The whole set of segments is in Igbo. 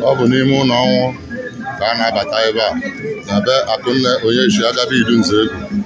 ọ bụ n'ime ụlọ ọnwụ ka a na-abata ebe a na be akụnne onye isi agabi idu Nzegwu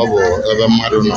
ọ bụ ebe mmadụ nọ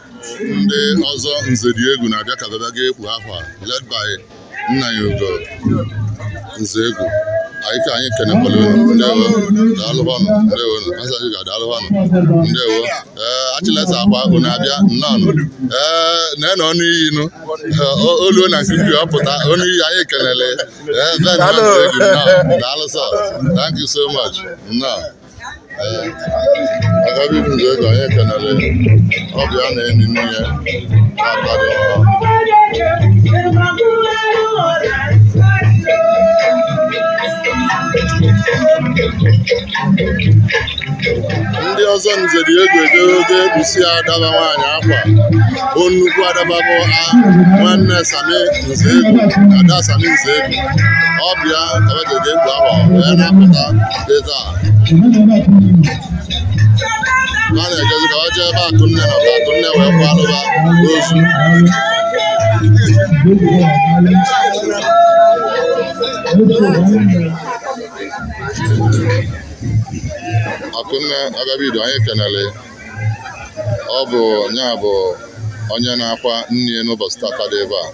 ndị ọzọ nze dị egwu na-abịa ka ba bịa ga ekpu akwa led by Nnanyelugo Nzegwu anyị ka anyị kenekwala unu ndewo daalụbanụ ndewo nụ asaghị ga daalụbanụ ndewo ee achịleta akwa akụ na-abịa nnọọnụ ee na-enọ ọnụ iyi nụ Ee, o- oluo na nkuku ọ pụta ọnụ iyi anyị kenele ee ben na Nzegwu nnọọ daalụ sọ thank you so much nnọọ agabi idu Nzegwu anyị kenele ọ bụ ya na-eni nne ya na-akparị ọha ndị ọzọ nze dị egwu ejego ekpusi ada ba nwaanyị akwa bụ nnukwu ada ba bụ a nwanne Sami Nzegwu ada Sami Nzegwu ọ bụ ya ka ba jeje ekpu akwa wee na-apụta ego a na-ejezi ka ọ jee ebe akụnne nọ ka akụnne wee kwaalụ ba ozu akụnne agabi idu anyị kenele ọ bụ nya bụ onye na-akwa nne n'ụbọchị tata dị ebe a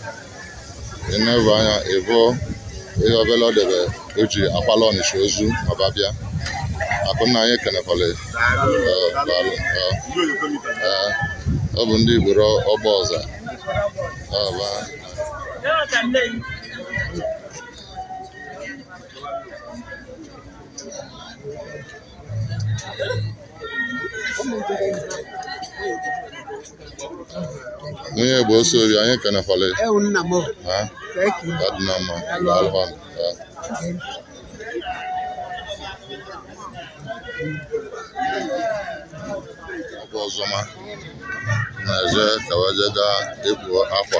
ị na-ebu anya ịbụ ihe obele ọ debe o ji akwalụ Ọnịcha ozu ma ba bịa akụnne anyị ekenekwala ya. Ee, daalụ. Ee, ee, ọ bụ ndị ikporo Ọgbọza Ee, ba. nwunye bụ oso ori anyị kenekwala ya ewu nna m o. ha Thank you. ka dị na mma daalụkwa nụ. Daalụ. Ọ bụ ọzọma na-eje ka wa je gaa ikpu akwa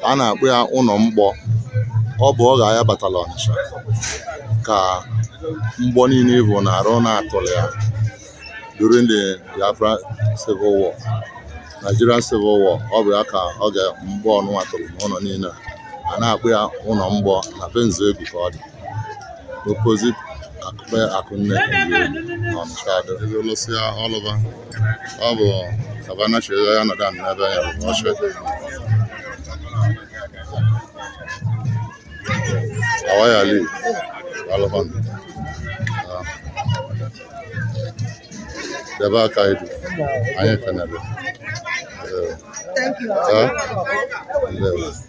ka a na-akpọ ya ụlọ mgbọ ọ bụ oge aya batala ọnịsha ka mgbọ niile bụ na arụ na-atụrụ ya during the biafra civil war nigerian civil war ọ bụ ya ka oge mgbọ ọnụnwa tụrụ n'ụlọ niile a. a na-akpọ ya ụlọ mgbọ na be nzegwu ka ọ dị opposite akụpe akụnne n'ọnịsha ado ebe lụsịa ọlụba ọ bụ savana chiri ya nọdụ anị n'ebe ya bụ ọchị awaya li alụkwan debe aka idu anyị kenere Thank you. Huh? Ndewo.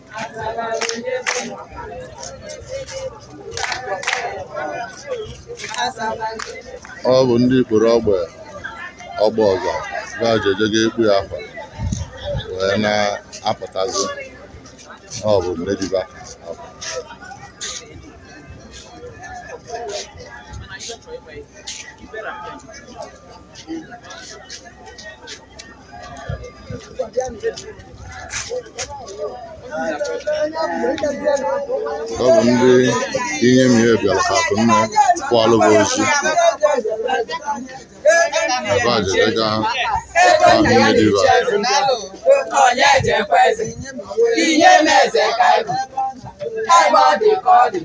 ọ bụ ndị ikporo ọgbe ọgbe ọza ga-eje je ikpu ya akwa wee na-apụtazi ọ bụ nnediba ọ bụ ndị inyemesi bịara ka akụnne kwalụ bụ ozu ebe a jere ga ahụ nnediba Onye ejekweze, inyemesi ka ị bụ. ebe ọ dị ka ọ dị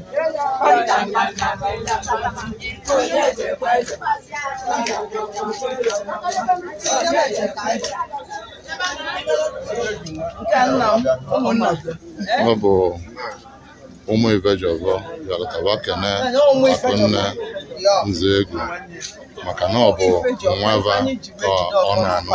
ọ bụ ụmụ ibejiọfọ bịara ka va kene akụnne nzegwu maka na ọ bụ nwa va ka ọ na-anụ